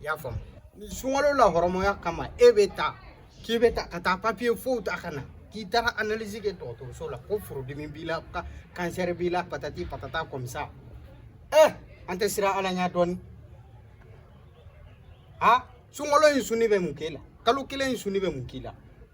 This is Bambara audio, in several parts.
i y'a faamu ni sunkalo la hɔrɔmɔya kama e bɛ taa k'i bɛ taa ka taa papiye fow ta ka na k'i taara analyse kɛ dɔgɔtɔrɔso la ko furudimi b'i la ka kansɛri b'i la patati patata comme ça ɛ eh, an tɛ siran ala ɲɛ dɔɔni a sunkalo in suni bɛ mun k'e la kalo kelen in suni bɛ mun k'i la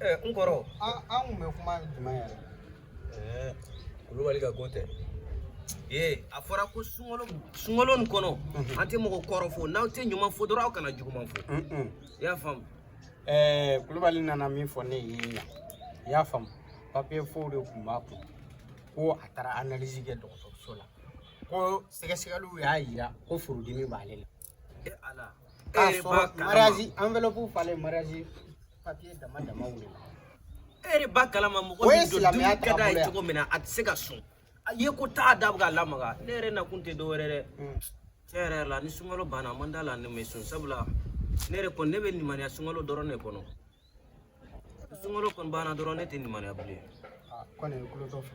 n kɔrɔ an kun bɛ kuma jumɛn yɛrɛ kulubali ka ko tɛ ee a fɔra ko sunkalo sunkalo nin kɔnɔ an tɛ mɔgɔ kɔrɔfɔ n'aw tɛ ɲuman fɔ dɔrɔn aw kana juguman fɔ i y'a faamu ɛɛ kulubali nana min fɔ ne ye yan i y'a faamu papiye fow de tun b'a kun ko a taara analyse kɛ dɔgɔtɔrɔso la ko sɛgɛsɛgɛliw y'a yira ko furudimi b'ale la e b'a kalama mɔgɔ min don dumuni ka d'a ye cogo min na a tɛ se ka sun a ye ko t'a da bɛ ka lamaga ne yɛrɛ nakun tɛ dɔwɛrɛ dɛ tiɲɛ yɛrɛ la ni sunkalo banna a man d'a la ne ma sun sabula ne yɛrɛ kɔni ne bɛ limaniya sunkalo dɔrɔn de kɔnɔ sunkalo kɔni banna dɔrɔn ne tɛ limaniya bilen kɔni ye kulo dɔ fɛ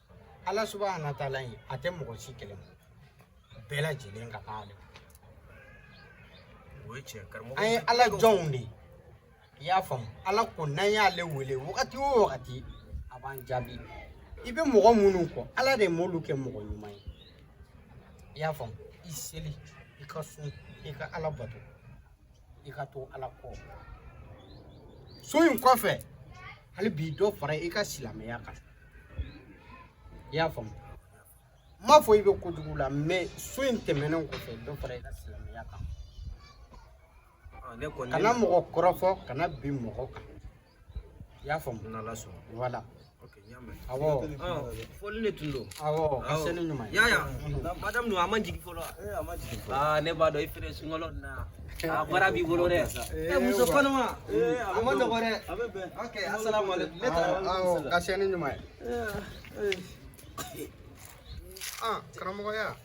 ala subahana wa taala in a tɛ mɔgɔ si kɛlɛ mɔgɔ bɛɛ lajɛlen ka kan ale an ye ala jɔnw de i y'a faamu ala ko n'an y'ale wele wagati o wagati a b'an jaabi i bɛ mɔgɔ minnu kɔ ala de m'olu kɛ mɔgɔ ɲuman ye i y'a faamu i seli i ka sun i ka ala bato i ka to ala kɔ sun in kɔfɛ hali bi dɔ fara i ka silamɛya kan i y'a faamu n m'a fɔ i bɛ kojugu la mais sun in tɛmɛnen kɔfɛ dɔ fara i ka silamɛya kan kana mɔgɔ kɔrɔfɔ kana bin mɔgɔ kan i y'a faamu n'ala sɔnna voilà awɔ foli de tun don awɔ ka se ni ɲuman ye yaya madamu dun a ma jigin fɔlɔ aa ne b'a dɔn i feere sunkalo na a baara b'i bolo dɛ ɛ muso kɔnɔma a man nɔgɔ dɛ ok asalaamaaleykum ne taara awɔ ka se ni ɲuman ye karamɔgɔya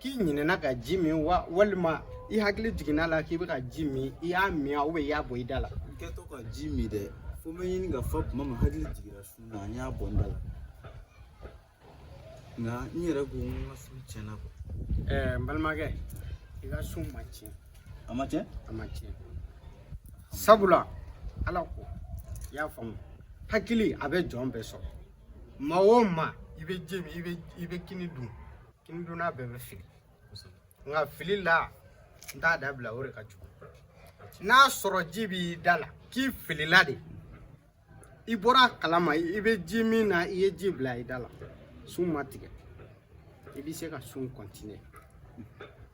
k'i ɲinɛna ka ji min wa walima i hakili jiginna la k'i bɛ ka ji min i y'a min wa i y'a bɔ i da la n kɛtɔ ka ji min dɛ fo n bɛ ɲini ka fa tuma min hakili jiginna sun na n y'a bɔ n da la nka n yɛrɛ ko n ka sun tiɲɛna quoi ɛɛ n balimakɛ i ka sun ma tiɲɛ a ma tiɲɛ a ma tiɲɛ sabula ala ko i y'a faamu hakili a bɛ jɔn bɛɛ sɔrɔ maa o maa i bɛ ji min i bɛ i bɛ kini dun Kini dunna bɛɛ bɛ fili nka fili la n t'a dabila o de ka jugu n'a sɔrɔ ji b'i da la k'i filila de i bɔra a kalama i bɛ ji min na i ye ji bila i da la sun ma tigɛ i bɛ se ka sun kɔntiniye